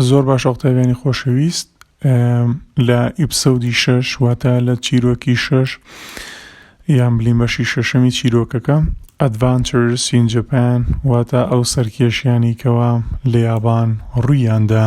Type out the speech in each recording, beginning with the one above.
زۆر باش ئەڵتەبیانی خۆشەویست لە ئیپسەودی شەش واتە لە چیرۆکی شەش یان بلین بەشی شەشەمی چیرۆکەکە ئەدڤانچر سینجپان واتە ئەو سەرکێشیانی کەوا لە یابان ڕوویاندا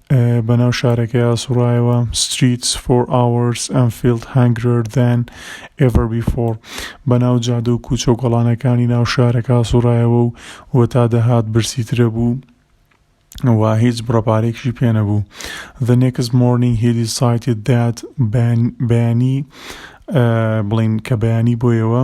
بەناو شارەکەیا سوڕایەوە Streets for hours and felt hungrier than ever before بەناو جادە و کوچە و گۆڵانەکانی ناو شارەکە سوڕایەوە و وەتا دەهات برسی ترە بوو و هیچ بڕەپارێکشی پێ نەبوو The next morning he decided that بەیانی بڵین کە بەیانی بۆیەوە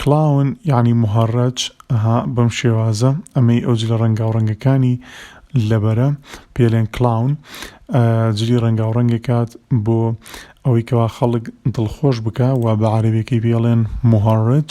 کلاون یانی مهڕج ئەها بەم شێوازە ئەمەی ئەو جلە ڕەنگاو ڕەنگەکانی لەبەرە پێلێن کلاون جلی ڕەنگاو ڕەنگەکات بۆ ئەوەی کەوا خەڵک دڵخۆش بکە و بە عربێکی بێڵێن مهڕج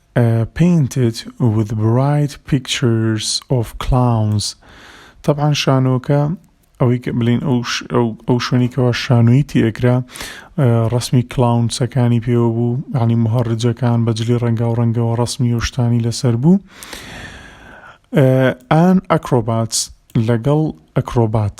Painted with bright pictures of clowns تەبعەن شانۆکە ئەوەی کە بلین ئەو شوێنی کەەوە شانۆی تێکرا ڕسمی کلاونسەکانی پێوە بوو عنی مهڕجەکان بەجلی ڕەنگا و ڕەنگەوە ڕسمی و شتانی لەسەر بوو ئان ئەکرۆبات لەگەڵ ئەکرۆبات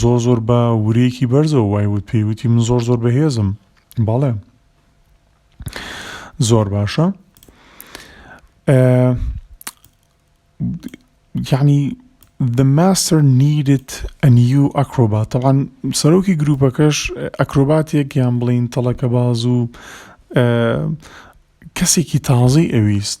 زۆر زۆر بە ورەیەکی بەرزەوە وای وت پێی وتی من زۆر زۆر بەهێزم بەڵێ زۆر باشە یعنی The master needed a new acrobat طبعا سەرۆکی گروپەکەش ئەکرۆباتێک یان بڵین تەڵەکە باز و کەسێکی تازەی ئەویست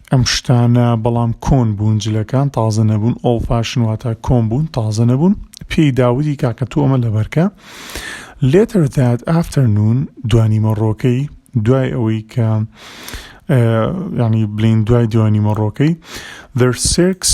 ئەم شتانە بەڵام کۆن بوون جلەکان تازە نەبوون ئۆڵ فاشن واتا کۆن بوون تازە نەبوون پێی داودی کاکە تۆ ئەمە لەبەرکە لێتر داد ئافتەرنون دوانیمە ڕۆکەی دوای ئەوەی کە ینی بلین دوای دوانیمە ڕۆکەی دەر سێکس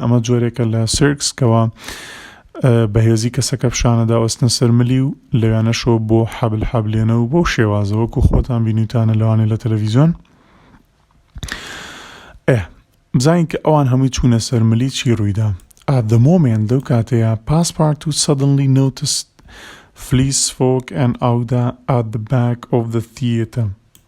ئەمە جۆرێکە لە سێرکس کەوا بەهێزی کەسەکە پیشانە داوەستنە سەرملی و لەویانەشەوە بۆ حەبل حەبلێنە و بەو شێوازەوەکو خۆتان بینیوتانە لەوانێ لە تەلەڤیزیۆن ئێ بزانین کە ئەوان هەمووی چوونە سەرملی چی ڕوویدا at the moment لەو کاتەیە پاسپارت و suddenly noticed فلیس فۆک ئەن ئاودا at the back of the theater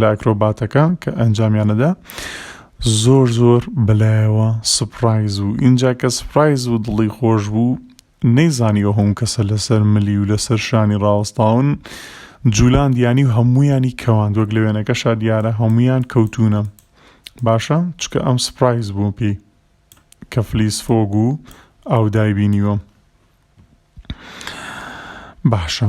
لە ئەکرۆباتەکان کە ئەنجامیانەدا زۆر زۆر بەلایەوە سپڕایز و ئینجا کە سپڕایز و دڵی خۆش بوو نەیزانیەوە هەم کەسە لەسەر ملی و لەسەر شانی ڕاوەستاون جوولان دیانی و هەمویانی کەوان وەک لە وێنەکەشا دیارە هەمویان کەوتونە باشە چکە ئەم سپڕایز بوو پێی کە فلیس فۆگ و ئاودای بینیوە باشە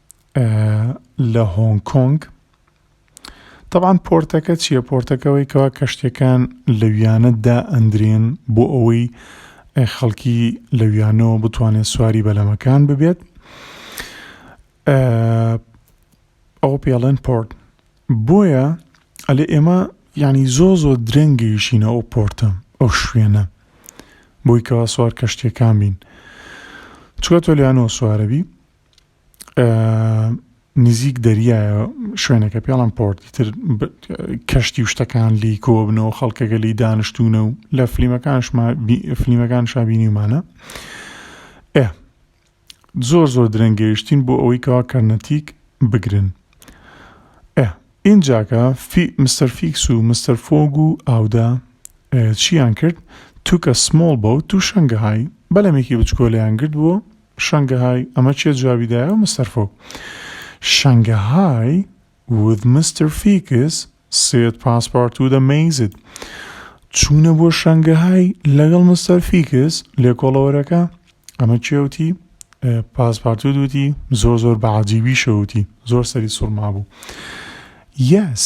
لە هۆنگ کۆنگ طبعاان پۆرتەکە چییە پۆرتەکەەوەی کەوا کەشتەکان لەویانە دا ئەندرێن بۆ ئەوەی خەڵکی لەویانەوە بتوانێت سواری بەلەمەکان ببێت ئەو پێڵێن پۆرت بۆیە ئەلێ ئێمە ینی زۆ زۆ درەنگەیشینە ئەو پۆرتە ئەو شوێنە بۆی کەوا سوار کەشتەکان بین چوە تۆ لەیانەوە سوارەبی نزیک دەریایە شوێنەکە پێڵم پۆرت تر کەشتی و شتەکان لی کۆبنەوە خەڵکەکە لی دانیشتونە و لە فلیمەکانشما فلیمەکان شابینیمانە ئێ زۆر زۆر درەنگەیشتین بۆ ئەوەی کەوا کەرنەتیک بگرن ئێ اینجاکە فی مستەر فیکس و مستەر فۆگ و ئاودا چیان کرد توکە سمۆڵ بەوت و شنگەهای بەلەمێکی بچکۆلیان گرت بووە شەنگەهای، ئەمە کێ جوابی دایەوە مستەر فۆک؟ شەنگەهای، وت مستەر فیکس سێت پاسپارتو دە مەیزد چوونە بۆ شەنگەهای لەگەڵ مستەر فیکس لێکۆڵەوەرەکە ئەمە کێ وتی پاسپارتو دوتی زۆر زۆر بە عجیبی شەوتی زۆر سەری سوڕما بوو یەس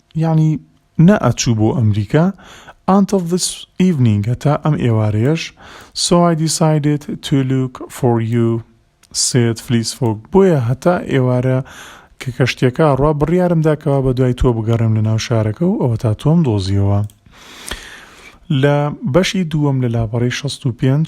یەعنی نە ئەچوو بۆ ئەمریکا Until this evening هەتا ئەم ئێوارەیەش So I decided to look for you said Fleece Fox بۆیە هەتا ئێوارە کە کەشتیەکە ئەڕوا بڕیارم دا کەوا بەدوای تۆ بگەڕێم لە ناو شارەکە و ئەوەتا تۆم دۆزیەوە لە بەشی دووەم لە لاپەڕەی شەست و پێنج.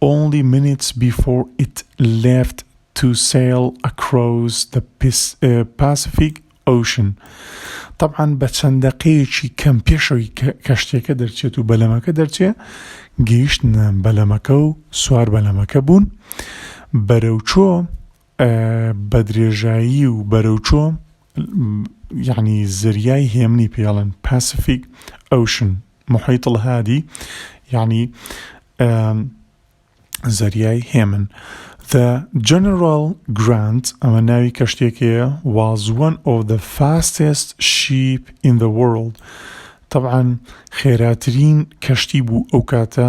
Only minutes before it left to sail across the Pacific Ocean تەبعەن بە چەند دەقەیەکی کەم پێشەوەی کەشتێکە دەرچێت و بەلەمەکە دەرچێ گەیشتنە بەلەمەکە و سوار بەلەمەکە بوون بەرەوچۆ بەدرێژایی و بەرەوچۆ یعنی زەریای هێمنی پێڵن پاسفیک ئەوشن محیط الهادی یعنی زەریای هێمن The General Grant ئەمە ناوی کەشتێکەیە was one of the fastest ship in the world طبعا خێراترین کەشتی بوو ئەو کاتە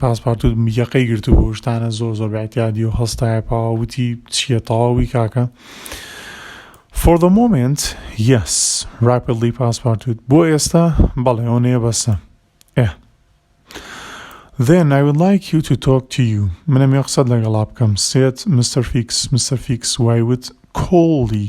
پاسپارتوت یەقەی گرتبوو شتانە زۆر زۆر بەعتیادی و هەستایە پاوە وتی چییە تەواوی کاکە For the moment yes rapidly پاسپارتوت بۆ ئێستا بەڵێ ئەوەنەیە بەسە ئێ Then I would like you to talk to you منم یە قسەت لەگەڵا بکەم سێت مستەر فیکس مستەر فیکس وای وت کۆڵی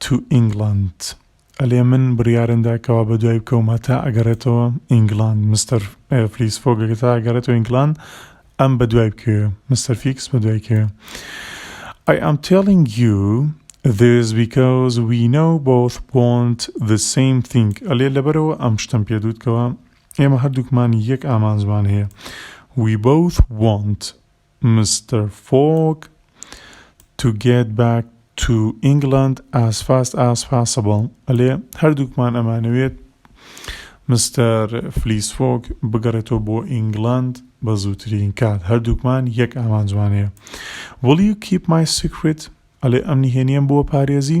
تو ئینگلاند ئەلێ من بریارن دا کەوا بەدوای بکەوم هەتا ئەگەرێتەوە ئینگلاند مستەر فلیس فۆگ هەتا ئەگەرێتەوە ئینگلاند ئەم بەدوای بکەوێ مستەر فیکس بەدوای کەوێ I am telling you this because we know both want the same thing ئەلێ لەبەرەوە ئەم شتم پێ دووتکەوە ئێمە هەردووکمان یەک ئامانجمان هەیە we both want Mister Fogg to get back to England as fast as possible ئەلێ هەردووکمان ئەمانەوێت مستەر فلیس فۆگ بگەڕێتەوە بۆ ئینگلاند بە زووترین کات هەردووکمان یەک ئامانجمان هەیە Will you keep my secret ئەلێ ئەم نهێنیەم بۆ پارێزی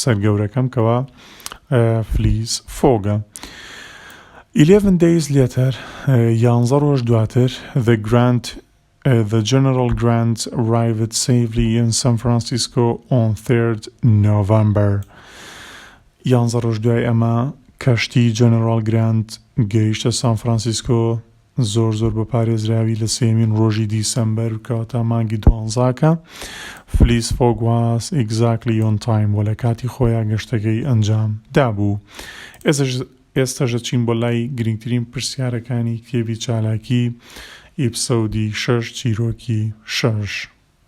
سەر گەورەکەم کەوا فلیز فۆگە. ئیلێڤن دەیز لێتەر یانزە ڕۆژ دواتر The Grand The General Grant arrived safely in San Francisco on 3rd November. یانزە ڕۆژ دوای ئەمە کەشتی جەنەرال گراند گەیشتە سان فرانسیسکۆ زۆر زۆر بە پارێزراوی لە سێیەمین ڕۆژی دیسەمبەر کەواتە مانگی دوانزا کە فلیس فۆگ واس ئیگزاکلی ئۆن تایم وە لە کاتی خۆیا گەشتەکەی ئەنجام دابوو ئێستەش ئێستەش دەچین بۆ لای گرینگترین پرسیارەکانی کتێبی چالاکی ئیپسەودی شەش چیرۆکی شەش.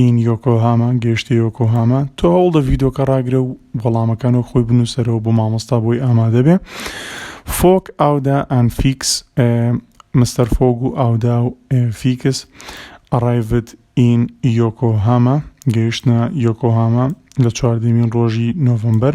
این یۆکۆهاما گەیشتە یۆکۆهاما تۆ هەوڵدە ڤیدۆکە ڕاگرە و وەڵامەکان و خۆی بنووسەرەوە بۆ مامۆستا بۆی ئامادە بێ فۆک ئاودا ئەن فیکس مستەر فۆگ و ئاودا و فیکس ئەڕایڤت ئین یۆکۆهاما گەیشتە یۆکۆهاما لە چواردەمین ڕۆژی نۆڤەمبەر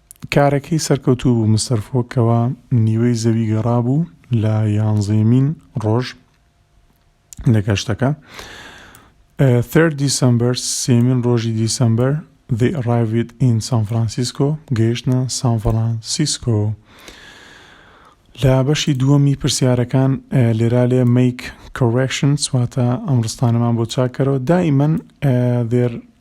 کارەکەی سەرکەوتوو بوو، مستەر فۆگ کەوا نیوەی زەوی گەڕابوو لە یانزەیەمین ڕۆژ لە گەشتەکە. Third December سێمین ڕۆژی دیسەمبەر They arrived in San Francisco گەیشتە سان فرانسیسکۆ. لە بەشی دووەمی پرسیارەکان لێرا لێ make corrections واتە ئەم ڕستانەمان بۆ چاکەرەوە دائیمەن دێر